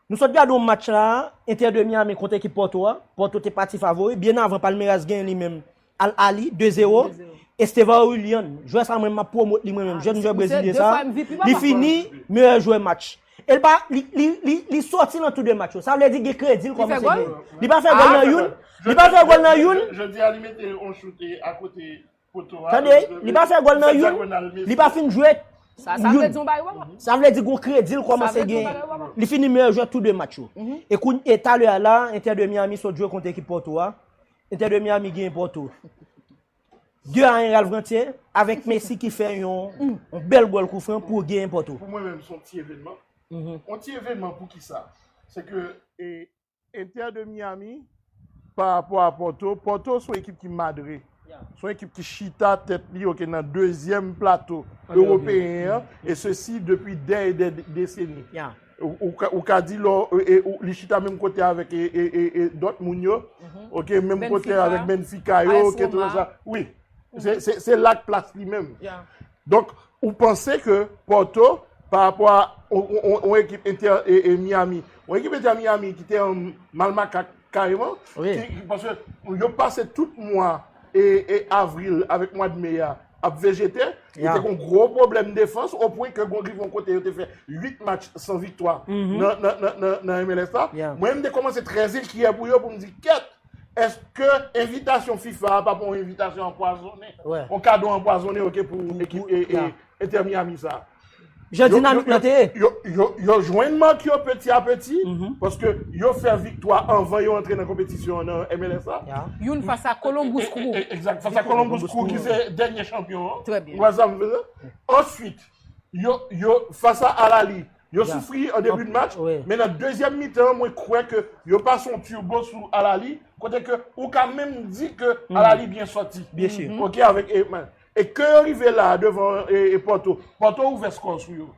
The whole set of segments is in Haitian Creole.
Nou sot gade yon match la a, Inter de Miami kont ekip Porto a, Porto te pati favori, byen avan Palmeiras genyen li menm Al Ahly 2 zero, Estevao Willian, jwè sa mwen menm map pwomot li mwen menm, jèn jwè brezilyen sa a, li fini meyè jwè match. E li pa, li, li, li, li soti nan tou 2 match yo, sa vle di gen kredi l kòmanse genyen. Li pa fè gòl nan youn, li pa fè gòl nan youn. Jodi a li mete yon choute akote Tande, li pa fè gòl nan youn, li pa fin jwe youn. Sa vle di yon bagay wè la. Sa vle di gon kredi l kòmanse gen. Li fini meyè jwè tou 2 match yo. E kounye, e talè a la, Inter de Miami sot jwe kont ekip Porto a. Inter de Miami genyen Porto 2 a 1 Ralph Ganthier avèk Messi ki fè yon bèl gòl kou fran pou genyen Porto. Pou mwen menm son ti evenman. Yon ti evenman pou kisa? Se ke. Inter de Miami pa rapò a Porto, Porto son ekip ki madre, son ekip ki chita tèt li ok nan dezyèm plato ewopeyen an e sesi depi dè e dè deseni. Ou ka di lò li chita menm kote avèk Dortmund yo ok, menm kote avèk Benfica yo, wi se la k plas li menm. Donk ou panse ke Porto pa rapò a yon ekip Inter Miami, yon ekip Inter Miami ki te an mal makak kareman, paske yo pase tout mwa avril avèk mwad me a ap vejete, yo te gon gwo pwoblèm defans o pwen ke rive yon kote yo te fè 8 match san viktwa nan MLS la. Mwen menm m te kòmanse trè zenkyè pou yo pou m di kèt! Eske envitasyon fifa a pa pou yon envitasyon anpwazone? Yon kado anpwazone ok pou ekip Inter Miami sa? Jan dinamik lan te ye. Yo jwenn mank yo peti a peti, paske yo fè viktwa anvan yo antre nan konpetisyon an nan MLS la. Youn fas a Columbus Crew. Egzat, fas a Columbus Crew ki se dènye chanpyon an. Trè byen. Ou wè sa m vle di? Answit, yo fas a Al Ahly. Yo soufri an debi de match, men nan dezyèm mitan mwen kwè ke yo pase yon turbo sou Al Ahly, kote ke ou ka menm di ke Al Ahly byen sòti. Byen si. Ok avèk e men. E ke yo rive la devan e Porto, Porto ouvè skò sou yo.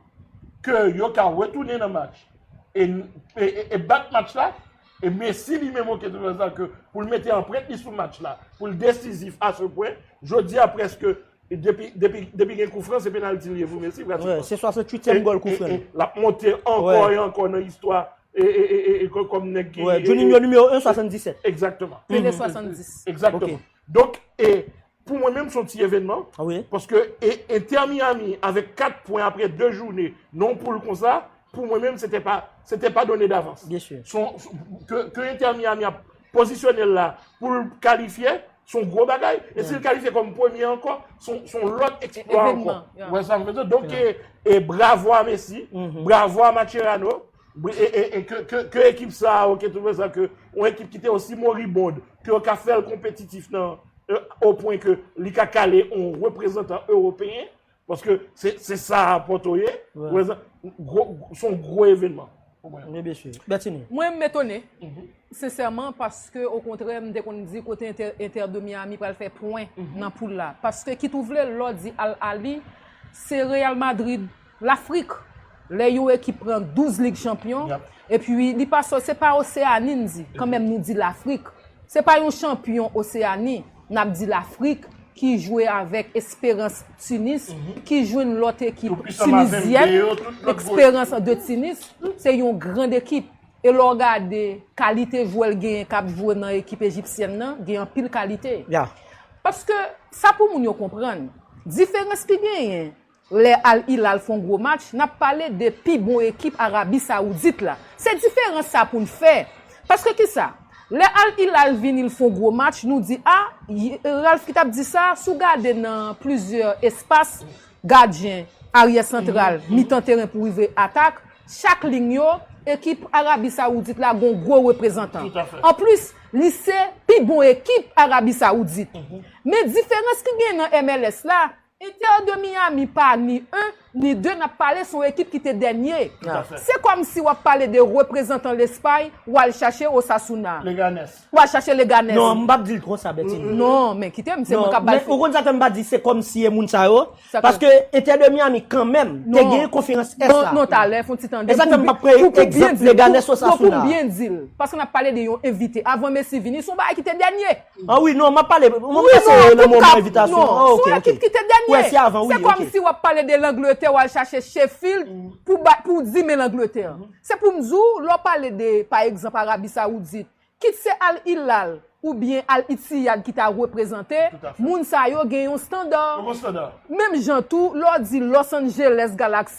Ke yo ka retounen nan match. E e bat match la, e Messi li menm ok pou l mete anprent li sou match la, pou l desizif a se pwen, jodi a prèske. Depi gen koufran se penalty liye pou Messi. Se 68 èm gòl koufran li. L ap monte ankò e ankò nan istwa. Juninho nimewo 1, 77. Ekzakteman. Pele 70. Ekzakteman. Donk e pou mwen menm son ti evènman. Paske e entè Miami avèk 4 pwen apre 2 joune nan yon poul konsa. Pou mwen menm, se te pa, se te pa done davans. Byen si. Son, ke, ke Inter Miami ap pozisyone l la pou l kalifye, son gwo bagay. E si l kalifye kòm premye ankò, son, son lòt eksplwa ankò. Evenman, ya. Ou wè sa m vle di w? Donk e, e bravo a Messi, bravo a Macherano, e, e, e ke, ke, ke ekip sa a, oke, tout wè sa ke, yon ekip ki te osi moribond, ke yo ka fè l konpetitif nan, o pwen ke li ka kale yon reprezantan ewopeyen. Paske se sa apote ou ye. Son gwo evenman. Mwen m etone. Sensèman paske o kontrè m te konn di kote Inter de Miami pral fè pwen nan poul la. Paske kit ou vle lò di Al Ahly se Real Madrid Lafrik. Lè yon ekip pran 12 lig chanpyon, epi li pa sòti, se pa Oseani m di, kanmenm nou di Lafrik. Se pa yon chanpyon Oseani, n ap di Lafrik ki jwe avèk Esperans Tunis, ki jwenn lòt ekip tinizyèn, Esperans de Tunis, se yon grand ekip. E lè w gade kalite jwè l genyen k ap jwe nan ekip ejipsyèn nan, gen anpil kalite. Paske, sa pou moun yo konprann, diferans ki genyen, Lè Al Hilal fon gwo match, nap pale de pi bon ekip Arabi Saoudit la. Se diferans sa poun fè. Paske kisa? Lè Al Hilal vini l fon gwo match, nou di a, Ralph ki tap di sa, si w gade nan plizyè espas, gadyen, aryè santral, mitan teren pou rive atak, chak lign yo, ekip Arabi Saoudit la gon gwo reprezantan. Anplis, li se pi bon ekip Arabi Saoudit. Men diferans ki genyen nan MLS la, Inter de Miami pa ni un, ni deux nap pale son ekip ki te dènye. Se kòmsi wap pale de reprezantan Lespay wal chache Osasuna. Leganes. Wal chache Leganes. Non, m pap dil konsa Bertinie. Non, men kite m, se mwen kap bay. Ou konn sa fè m pa di se kòmsi e moun sa yo? Paske Inter de Miami kanmenm te gen konferans Est la. Non, talè, fon ti tande m. E sa k fè m pap pran egzanp Leganes Osasuna. Non, pou m byen dil. Paske nap pale de yon envite. Avan Messi vini, son bagay ki te dènye. An wi, non, m ap pale, m ap pase nan moman envitasyon an. Non, sou ekip ki te dènye. Wè, se avan, wi, ok. Se kòm si w ap pale de Langletè, w al chache Sheffield pou bat, pou w di men Langletè. Se pou m di w, lè w pale de, pa egzanp, Arabi Sawoudit, kit se Al Hilal ou byen Al Ittihad ki ta reprezante, moun sa yo gen yon standard. Yo gen yon standard. Menm jan tou, lè w di Los Angeles Galaxy.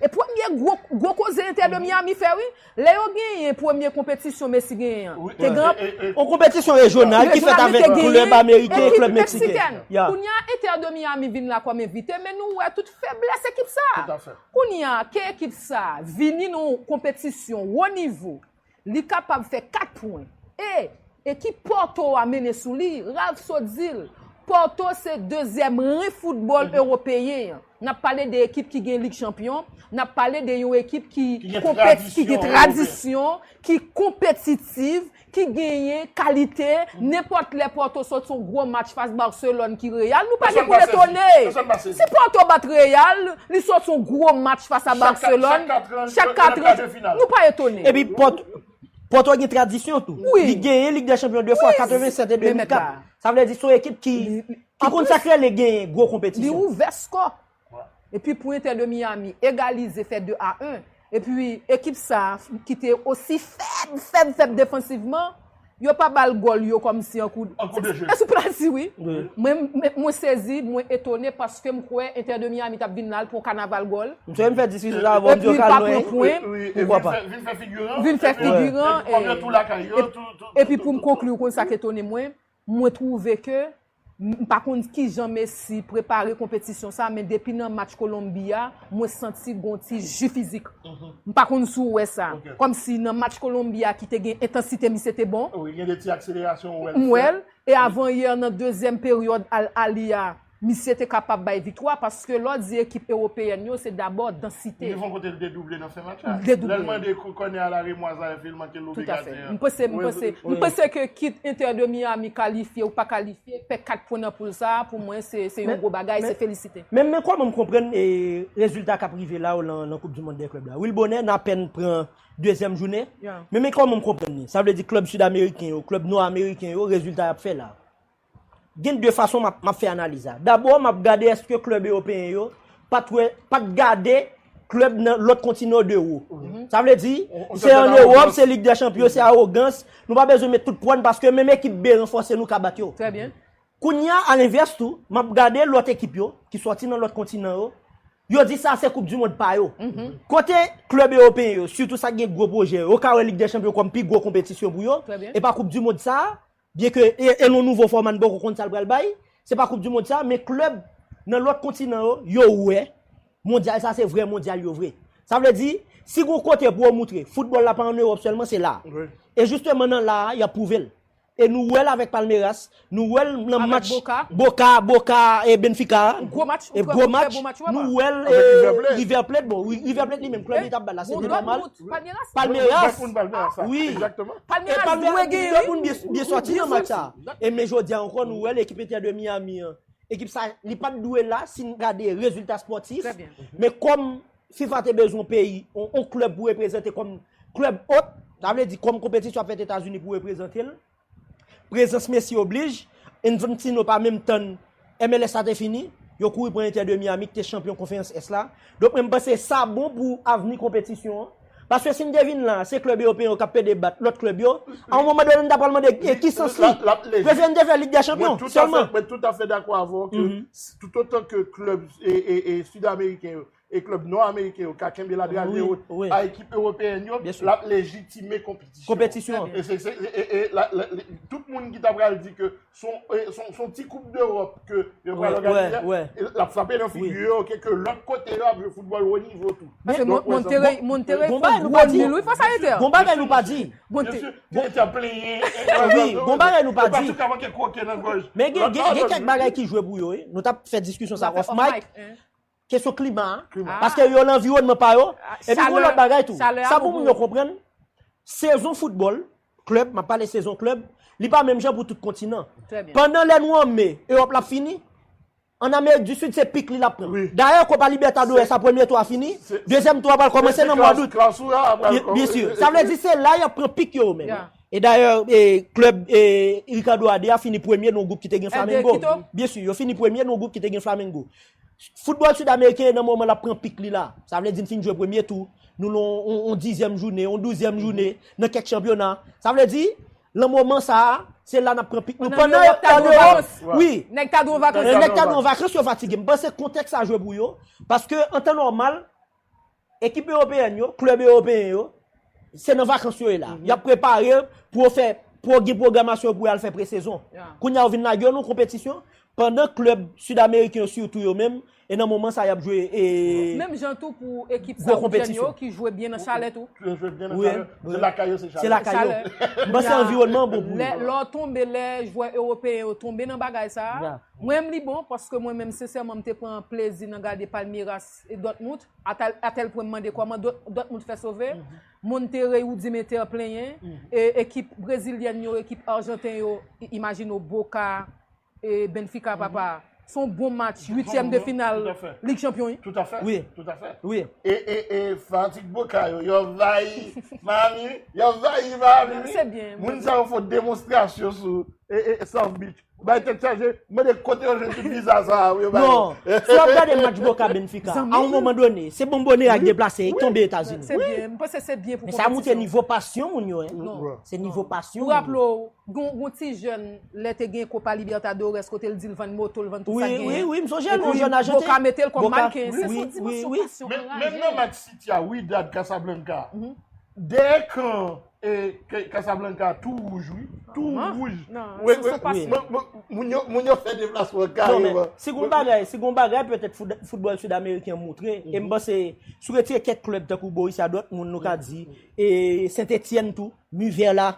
E premye gwo, gwo koze Inter de Miami fè wi, lè yo genyen premye konpetisyon Messi genyen an, te gen anpil. Yon konpetisyon rejyonal ki fèt avèk klèb ameriken e klèb meksiken. Kounye a Inter de Miami vin la kòm envite men nou wè tout feblès ekip sa. Kounye a ke ekip sa vini nan yon konpetisyon wo nivo Li kapab fè 4 pwen. E! Ekip Porto a mennen sou li, Ralph sot di l. Porto se dezyèm ren foutbòl ewopeyen an. N ap pale de ekip ki gen Lig Chanpyon, n ap pale de yon ekip ki gen tradisyon, ki konpetitiv, ki genyen kalite. Nenpòt lè Porto sot son gwo match fas Barcelone ki Real, nou pa gen pou n etone. Si Porto bat Real, Li sòti yon gwo match fas a Barcelone, chak 4 an, nou pa etone. Epi Porto gen tradisyon tou. Li genyen Ligue des Champions 2 fwa, 87 e 2004. Sa vle di son ekip ki konn sa k rele genyen gwo konpetisyon. Li ouvè skò. Epi pou Inter de Miami egalize fè 2 a 1, Epi ekip sa a ki te osi fèb, fèb, fèb defansivman, yo pa ba l gòl yo kòmsi an kou de. An kou de je. An kou penalti wi. Mwen sezi, mwen etone paske m kwè Inter de Miami t ap vin la l pran yon kanaval gòl. M sonje m fè diskisyon sa avè w, m di yo ka lwen. Epi l pa pran pwen. Poukwa pa. Vin fè figiran. Vin fè figiran. Epi kòm yo tou lakay yo. Epi pou m konkli, ou konn sa k etone mwen? Mwen twouve ke, m pa konn kijan Messi prepare konpetisyon sa, men depi nan match Kolonbi a, mwen santi gon ti ji fizik. M pa konn si w wè sa. Kòm si nan match Kolonbi a ki te gen entansite misye te bon. Wi, gen de ti akselerasyon ou wè l fè. M wè l. E avan yè nan dezyèm peryòd Al Ahly a, Misye te kapab bay viktwa paske lè w di ekip ewopeyèn yo se dabò dansite. Li gen yon kote li te double nan fen match la. Li te double. Lè l mande kònè a la remwaze a epi l manke l love gadyen an. Tout afe. M panse, m panse ke kit Inter de Miami kalifye ou pa kalifye, fè 4 pwen nan poul sa a pou mwen se yon gwo bagay, se felisite. Men, men kòman m konprann rezilta k ap rive la yo nan koup di mond dè klèb la. Wi l bonè, n apèn pran dezyèm jounen, men men kòman m konprann li. Sa vle di klèb sud ameriken yo, klèb nò ameriken yo, rezilta y ap fè la. Gen 2 fason m ap fè analiz la. Dabò, m ap gade èske klèb ewopeyen yo pa t wè, pa t gade klèb nan lòt kontinan yo de wo. Sa vle di, se an Ewòp, se Lig dè Chanpyon, se awogans, nou pa bezwen met tout pwa n paske menm ekip B ranfòse nou ka bat yo. Kounye a, alenvès tou, m ap gade lòt ekip yo ki sòti nan lòt kontinan yo, yo di sa a se koup di mond pa yo. Kote klèb ewopeyen yo, sitou sa ki gen gwo pwojè yo, yo ka wè Lig dè Chanpyon kòm pi gwo konpetisyon pou yo, e pa koup di mond sa a, Byen ke e nou nouvo fòma n poko konn sa l pral bay, se pa koup di mond sa, men klèb nan lòt kontinan yo, yo wè mondyal sa se vrè mondyal yo vre. Sa vle di, si gon kote pou yo moutre foutbòl la pa an Ewòp sèlman se la. E jisteman nan la a y ap pwouve l. E nou wè l avèk Palmeiras, nou wè l nan match Boca, Boca e Benfica a, gwo match, nou wè l e River Plate, bon River Plate li menm klèb li t ap bat la se te nòmal. Palmeiras. Palmeiras. Wi. Palmeiras dwe gen yon moun byen soti nan match sa. E men jodi an kon nou wè l ekip Inter de Miami an. Ekip sa li pat dwe la si n gade rezilta spòtif. Trè byen. Men kòm fifa te bezwen yon peyi, yon klèb pou reprezante kòm klèb ot. Sa vle di kòm konpetisyon ap fèt Etazini pou reprezante l. Prezans Messi oblij, Infantino pa menm tann MLS la te fini, yo kouri pran Inter de Miami ki te chanpyon Konferans Ès la. Donk mwen panse sa bon pou avni konpetisyon an. Paske si n te vin la, se klèb ewopeyen yo k ap pede bat lòt klèb yo. A yon moman done n ta pral mande e ki sans li? Prefere n te fè Lig dè Chanpyon sèlman. Mwen toutafè dakò avè w ke toutotan ke klèb sidameriken yo e klèb nò ameriken yo ka kenbe ladrage wot a ekip ewopeyen yo, l ap lejitime konpetisyon an. E tout moun ki ta pral di ke son ti koup dewòp ke yo pral òganize a, l ap frape nan figi yo ke lòt kote yo ap jwe foutbòl wo nivo tou. Montere fon gwo dil wi fòs ayete. Gon bagay nou pa di. Montere ap plenyen. Gon bagay nou pa di. Yo pa sou ka manke kwoke nan gòj. Men gen kèk bagay ki jwe pou yo wi. Nou t ap fè diskisyon sa off mic. Kesyon klima a, paske yo lan anviwònman pa yo, epi goun lòt bagay tou, sa pou moun yo konprann, sezon foutbòl, klèb, map pale sezon klèb, li pa menm jan pou tout kontinan. Pandan lè nou an me, Ewòp la fini, an Amerik di Sid se pik li lap pran. Dayè Kopa Libètadores a premye tou a fini, dezyèm tou a pral kòmanse nan mwa dout. Byen si, sa vle di se la yap pran pik yo yo menm. E dayè klèb Ricardo a 2 a fini premye nan gwoup ki te gen Flamengo. Byen si, yo fini premye nan gwoup ki te gen Flamengo. Foutbòl Sud-Ameriken yo nan moman lap pran pik li la. Sa vle di n fin jwe premye tou, nou lan yon dizyèm joune, yon douzyèm joune nan kèk chanpyona. Sa vle di, lan moman sa a, se la nap pran pik nou. Pandan an Ewòp, wi, nèg ta dwe an vakans yo fatige. M panse kontèks sa jwe pou yo, paske an tan nòmal, Ekip Ewopeyèn yo, klèb Ewopeyen yo, se nan vakans yo ye la. Y ap prepare pou yo fè, pou yo gen pwogramasyon yo pou y al fè presezon. Kounye a yo vin lage yo nan konpetisyon, pandan klèb Sidameriken yo sitou yo menm, e nan moman sa a y ap jwe e. Menm jan tou pou ekip Sawoudyen yo ki jwe byen nan chalè tou. Yo jwe byen nan chalè. Se lakay yo, se chalè. Se lakay yo. M panse anviwònman an bon pou yo. Lè w tonbe, lè jwè Ewopeyen yo tonbe nan bagay sa a, mwen menm li bon, paske mwen menm sensèman m te pran plezi nan gade Palmeiras Dòtmout, a tèl pwen m mande kòman Dòtmout fè sove, Monterrey Rudimeter plenyen, ekip brezilyèn yo, ekip arjanten yo, imajine w Boca, Benfica papa, s on bon match, uityèm de final Lig Chanpyon. Toutafè, toutafè, e fanatik Boca yo, yo anvayi Miami wi, yo anvayi Miami wi, moun sa yo fon demonstrasyon sou South Beach. Bay tèt chaje, mande kote yo jwenn ti viza sa a pou yo bay yo. Non, si w ap gade match Boca Benfica, a yon moman done, se Bombonera ki deplase, ki tonbe Etazini. Se byen, m panse se byen pou konpetisyon. Men sa montre nivo pasyon moun yo. Se nivo pasyon moun yo. Pou raple w, gen yon ti jèn, lè te gen Copa Libertadores, kote l di l vann moto l, vann tout sa l genyen. Wi, wi, m sonje l, yon jèn ajanten. Epi Boca mete l kòm mannequin. Se son dimansyon pasyon anraje. Menm nan match City a, Wydad Casablanca, dèyè kan E Casablanca tou wouj wi. Tou wouj. Moun yo fè deplasman kareman. Si gon bagay petèt foutbòl Sid Ameriken moutre, e m panse si w retire kèk klèb tankou Borussia Dortmund nou ka di, e Saint Etienne tou, Nevers la.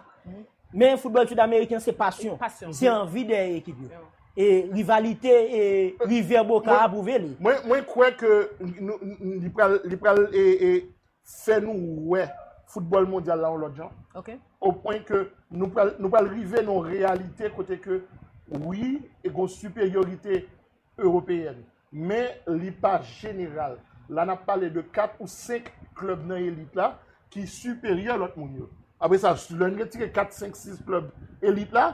Men foutbòl Sid Ameriken se pasyon. Se anvi dèyè ekip yo. E rivalite River Boca a pwouve li. Mwen kwè ke li pral fè nou wè foutbòl mondyal la yon lòt jan. Ok. O pwen ke nou pral, nou pral rive nan yon reyalite kote ke wi, e gen yon siperyorite ewopeyèn. Men li pa jeneral. La n ap pale de 4 ou 5 klèb nan elit la ki siperyè lòt moun yo. Apre sa, lè n retire 4, 5, 6 klèb elit la,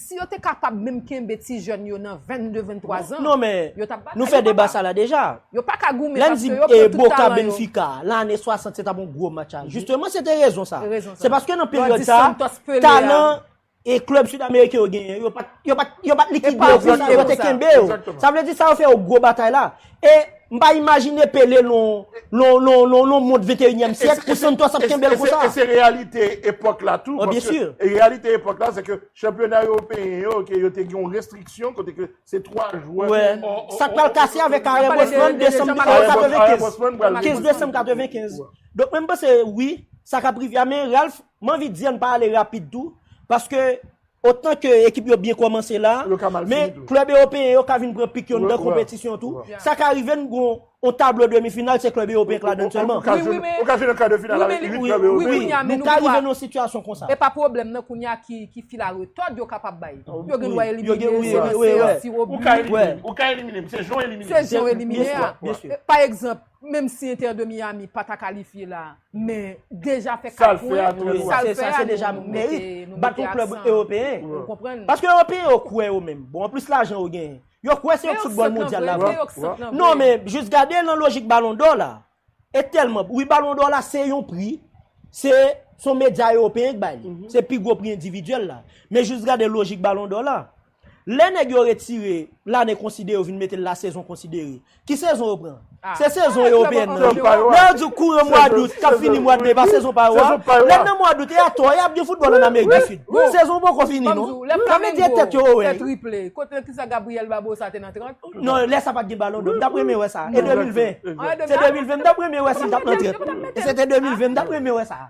Si yo te kapab menm kenbe ti jèn yo nan 22, 23 zan, yo tap batay. Non men, nou fè deba sa la deja. Yo pa ka goumen paske yo pran tout talan yo. Lè n di Boca Benfica, lan ane 60 se tap yon gwo match a. Jisteman se te rezon sa. Se paske nan peryòd sa, talan e klèb sud ameriken yo genyen, yo pat likide yo konsa, yo te kenbe yo. Sa vle di sa yo fè yo gwo batay la. E, m pa imajine Pele lon mond venteyinyèm syèk pou Santos ap kenbe l konsa. E se reyalite epòk la tou. Byen si. E reyalite epòk la se ke chanpyona ewopeyen yo ke yo te gen yon restriksyon kote ke se 3 jwè. Wè. Sa k pral kase avèk Karen Bosman desanm 1995. 15 desanm 1995. Donk mwen m panse wi, sa k ap rive a men Ralph m anvi di an n pa ale rapid tou paske Otan ke ekip yo byen kòmanse la, men klèb ewopeyen yo ka vin pran pik yo anndan konpetisyon tou. Sa ka rive n gon on tablo demi final se klèb ewopeyen k ladann sèlman. Ou ka jwe nan kar de final avèk 8 klèb ewopeyen. Nou ka rive nan on sitiyasyon konsa. E pa pwoblèm nan kounye a ki fil a retòd yo kapab bay. Yo gen dwa elimine yo nan seyans tiro bi. Ou ka elimine m. Se jan w elimine m. Se jan w elimine a. Pa egzanp. Menm si Inter de Miami pa ta kalifye la, men deja fè 4 pwen, sa l fè a deja nou mete aksan. Ou konprann? Paske Ewopeyen yo kwè yo menm. Bon, anplis lajan yo genyen. Yo kwè se yo k fout bòl mondyal la vre. Non men, jis gade nan lojik balon dò la. E tèlman, wi balon dò la se yon pri, se son medya Ewopeyen k bay li. Se pi gwo pri endividyèl la. Men jis gade lojik balon dò la. Lè nèg yo retire lane konsidere yo vin mete l la sezon konsidere. Ki sezon yo pran? Se sezon ewopeyen nan. Sezon pa yo a. Lè yo di kouran mwa dout k ap fini mwa de e pa sezon pa yo a. Sezon pa yo a. Lè n nan mwa dout e a tò e ap gen foutbòl ann Amerik di Sid. Sezon poko fini non. Ban m di w, lè Flamengo fè triple, kot lè ki sa Gabriel Barbosa te nan 30? Non, lè sa pa t gen balon dò. M t ap renmen wè sa. E 2020? Se 2020 m t ap renmen wè si l t ap nan 30. E se te 2020 m t ap renmen wè sa.